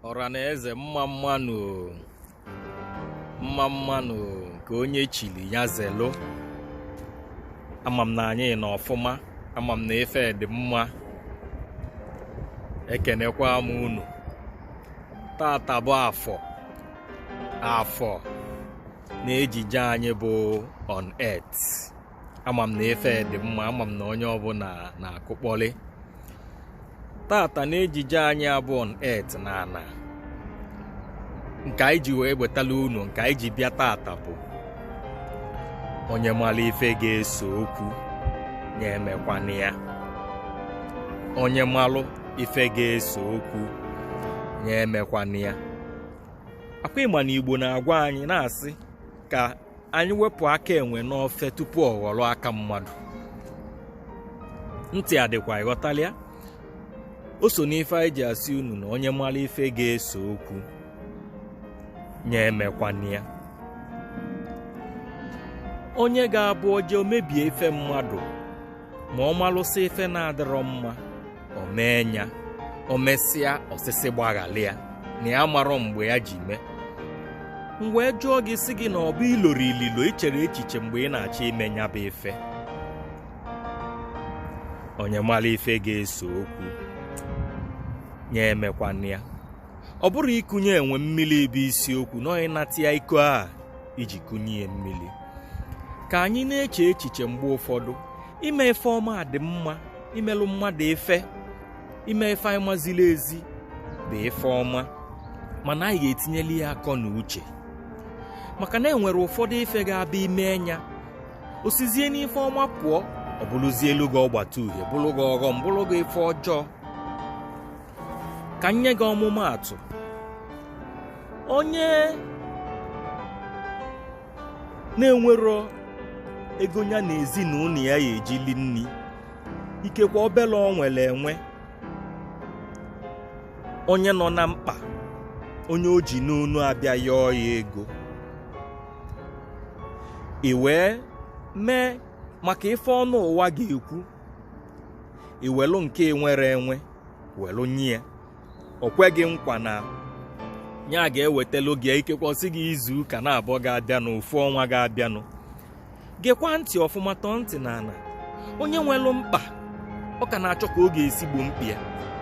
ọra na eze mma mma nụ mma mma nụ nke onye chili ya zelụ ama m na anyị nọ ọfụma ama m na ife dị mma ekenekwa m unu taata bụ afọ afọ n'ejije anyị bụ on earth ama m na ife dị mma ama m na onye ọbụla na-akụkpọli taata n'ejije anyị a bụ on earth na ana nke anyị ji wee wetala unu nke anyị ji bịa taata bụ onye malụ ife ga-ese okwu nya emekwana ya onye malụ ife ga-ese okwu nya emekwana ya ọ kwa ị ma na igbo na-agwa anyị na-asị ka anyị wepụ aka enwe n'ofe tupu ọ ghọrọ aka mmadụ ntị adịkwa ị ghọtala ya o so n'ife anyị ji asị unu na onye malụ ife ga-ese okwu nya emekwana ya onye ga-abụ o je o mebie ife mmadụ ma ọ malụsị ife na-adịrọ mma o mee nya o mesịa ọ sị sị gbaghalị ya na ya marọ mgbe ya ji mee m wee jụọ gị sị gị na ọ bụ i loro ililo i chere echiche mgbe ị na-achọ ime nya bụ ife onye malụ ife ga-ese okwu nya emekwana ya ọ bụrọ ikunye enwe mmili bụ isiokwu na ọ n'ịnata ya iko a i ji kunye ya mmili ka anyị na-eche echiche mgbe ụfọdụ ime ife ọma dị mma imelụ mmadụ ife ime ife anyị ma ziri ezi bụ ife ọma mana anyị ga-etinyeli ya akọ na uche maka na enwere ụfọdụ ife ga-abụ i mee nya o sizie n'ife ọma pụọ ọ bụrụzielụ gị ọgbata uhie bụrụ gị ọghọm bụrụ gị ife ọjọọ ka m nye gị ọmụmaatụ onye na-enwerọ ego nya na ezinụnọ ya ya-eji li nni ikekwe obele o nwere enwe onye nọ na mkpa onye o ji n'onu abịa yọọ ya ego i wee mee maka ife ọnụ ụwa ga-ekwu i welụ nke i nwere enwe welụ nye ya o kwe gị nkwa na ya ga-ewetelụ gị ikekwe ọ sị gị izu ụka naabọ ga-abịanụ ofu ọnwa ga-abịanụ gekwa ntị ọfụma tọọ ntị n'ana onye nwelụ mkpa ọ ka na-achọ ka ọ ga-esi gboo mkpa ya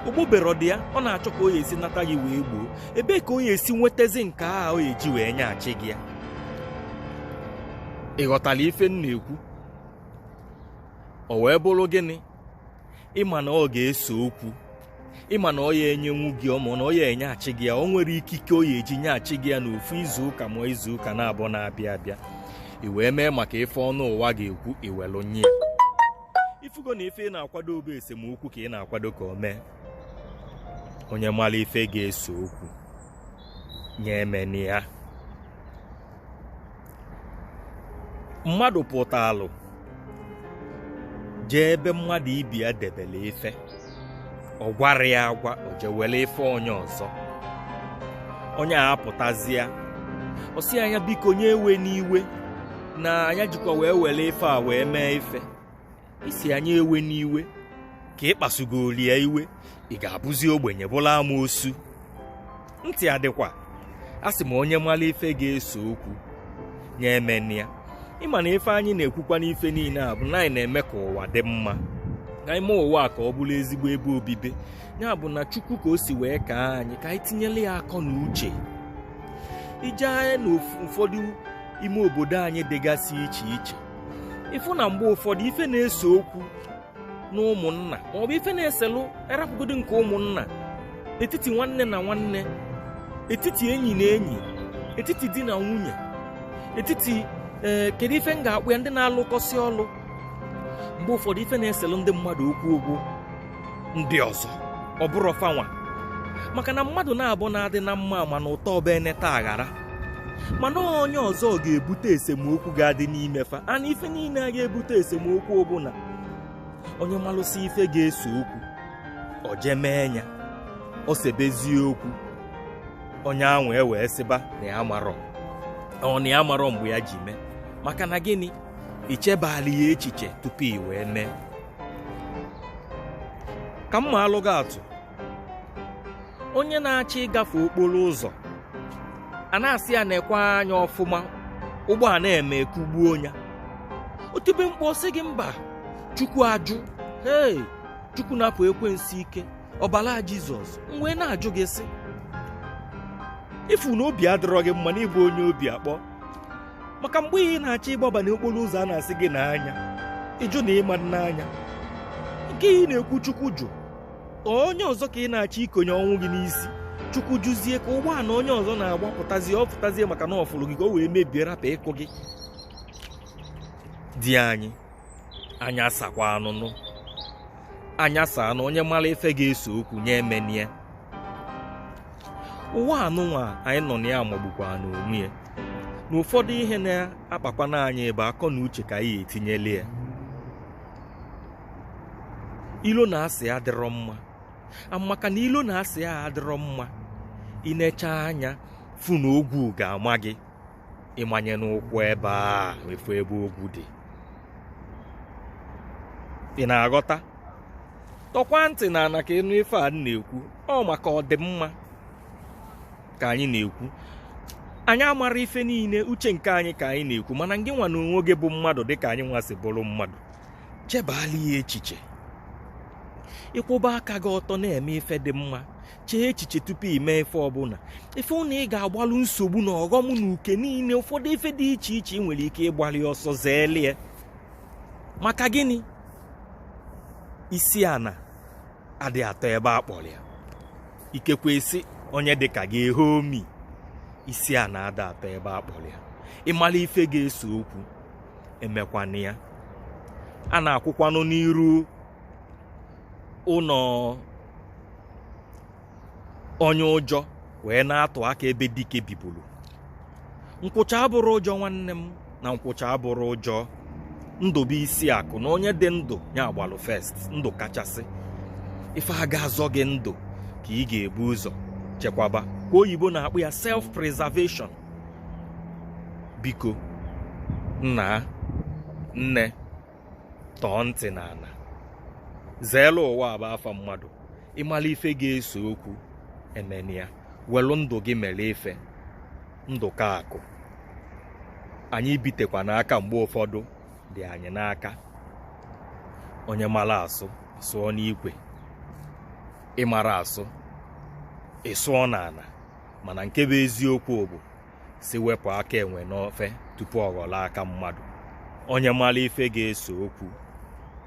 o gboberọ dị ya ọ na-achọ ka ọ ya-esi nata gị wee gboo ebee ka ọ ya-esi nwetazi nke a ọ ya-eji wee nyeghachi gị ya ị ghọtalụ ife m na-ekwu o wee bụrụ gịnị ịma na ọ ga-ese okwu ịma na ọ ya enyenwu gị maọbụ na ọ ya enyeghachi gị ya o nwero ikike o ya eji nyeghachi gị ya n'ofu izu ụka ma izu ụka naabọ na-abịa abịa i wee mee maka ife ọnụ ụwa ga-ekwu i welụ nye ya ifugo na ife ị na-akwado ọ bụ esemokwu ka ị na-akwado ka o mee onye mara ife ga-ese okwu nya emena ya mmadụ pụtalụ jee ebe mmadụ ibe ya debele ife ọ gwarọ ya agwa o jee welụ ife onye ọzọ onye a apụtazịa ọ sị ya nya biko nya ewena iwe na nya jikwa wee were ife a wee mee ife ị sị nya ewena iwe ka ị kpasugolu ya iwe ị ga-abụzi ogbenye bụla amoosu ntị adịkwa asị m onye mara ife ga-ese okwu nya emena ya ịma na ife anyị na-ekwukwa n'ife niile a bụ na anyị na-eme ka ụwa dị mma na ime ụwa ka ọ bụrụ ezigbo ebe obibi ya bụ na chukwu ka o si wee kee anyị ka anyị tinyere ya akọ na uche i jee na ụfọdụ ime obodo anyị dịgasị iche iche ị fụ na mgbe ụfọdụ ife na-ese okwu na ụmụnna maọbụ ife na-eselụ a rapụgodi nke ụmụnna etiti nwanne na nwanne etiti enyi na enyi etiti di na nwunye etiti ee eh, kedu ife m ga-akpọ ya ndị na-alụkọsị ọlụ mgbe ụfọdụ ife na-eselụ ndị mmadụ okwu ọ bụ ndị ọzọ ọ bụrọ fanwa maka na mmadụ naabọ na-adị na mma ma na ụtọ ọba eneta aghara mana onye ọzọ ga-ebute esemokwu ga-adị n'ime fa ana ife niile a ga-ebute esemokwu ọ bụ na onye malụsị ife ga-ese okwu o jee mee ya o sebezie okwu onye ahụ ewee sịba na ya amarọ o na ya amarọ mgbe ya ji mee maka na gịnị i chebalụ ya echiche tupu i wee mee ka m maalụ gị atụ onye na-achọ ịgafe okporo ụzọ a na-asị ya nekwa anya ọfụma ụgbọana eme kụgbuo ya o tibe mkpu sị gị mba chukwu ajụ ee chukwu napụ ekwensu ike ọbala jizọs m wee na-ajụ gị sị ị fụ na obi adịrọ gị mma na ị bụ onye obi akpọ maka mgbe ị na-achọ ịgbaba n'okporo ụzọ a na-asị gị nee anya ị jụ na ị ma-ene anya nke ị na-ekwu chukwu jụ onye ọzọ ka ị na-achọ ikonye ọnwụ gị n'isi chukwu jụzie ka ụgbọala onye ọzọ na-agbapụtazi ọ pụtazie maka na ọfụrụ gị ka o wee mebie rapụ ịkụ gị di anyị anya saakwanụ unu anya saanụ onye mara ife ga-ese okwu nya emena ya ụwa anụnwa anyị nọ na ya amagbukwana onwe ya na ụfọdụ ihe na-akpakwana anyị bụ akọ na uche ka anyị etinyele ya ilo na asị adịrọ mma maka na ilo na asị a adịrọ mma ị nechaa anya fụ na ogwu ga-ama gị ị manyena ụkwụ ebe afụ ebe ogwu dị ị na-aghọta tọkwa ntị na ana ka ị nụ ife a na-ekwu ọ maka ọdịmma ka anyị na-ekwu anyị amarọ ife niile uche nke anyị ka anyị na-ekwu mana ngị nwa na onwe gị bụ mmadụ dịka anyị nwa si bụrụ mmadụ chebala ya echiche ị kwụba aka gị ọtọ na-eme ife dị mma chee echiche tupu ị mee ife ọbụla ị fụ na ị ga-agbalụ nsogbu na ọghọm na uke niile ụfọdụ ife dị iche iche ị nwere ike ịgbalụ ọsọ zeelu ya maka gịnị isi ana adị atọ ebe a kpọrọ ya ikekwe isi onye dịka gị ehe omi isi ana ada atọ ebe a kpọrọ ya ị malụ ife ga-ese okwu emekwana ya a na-akwụkwanụ n'iru ụnọ onye ụjọ wee na-atụ aka ebe dike bibulu nkwụcha abụrọ ụjọ nwanne m na nkwụcha abụrọ ụjọ ndụ bụ isi akụ na onye dị ndụ ya agbalụ first ndụ kachasị ife a ga-azọ gị ndụ ka ị ga-ebu ụzọ chekwaba ka oyibo na-akpọ ya self preservation biko nna nne tọọ ntị n'ana zeelụ ụwa bụ afa mmadụ ị malụ ife ga-ese okwu emena ya welu ndụ gị mere ife ndụ ka akụ anyị bitekwa n'aka mgbe ụfọdụ dị anyị n'aka onye mara asụ sụọ n'ikwe ị marọ asụ ị sụọ n'ana mana nke bụ eziokwu bụ sị wepụ aka enwe n'ofe tupu ọ ghọrọ aka mmadụ onye malụ ife ga-ese okwu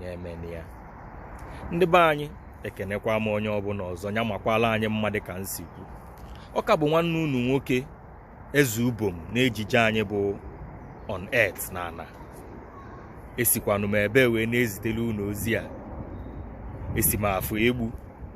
nya emena ya ndị be anyị ekenekwa m onye ọbụla ọzọ nya makwalụ anyị mma dị ka m si kwu ọ ka bụ nwanne unu nwoke eze ubom n'ejije anyị bụ on earth na ana esikwanụ m ebee wee na-ezitere unu ozi a esi m afọ egbu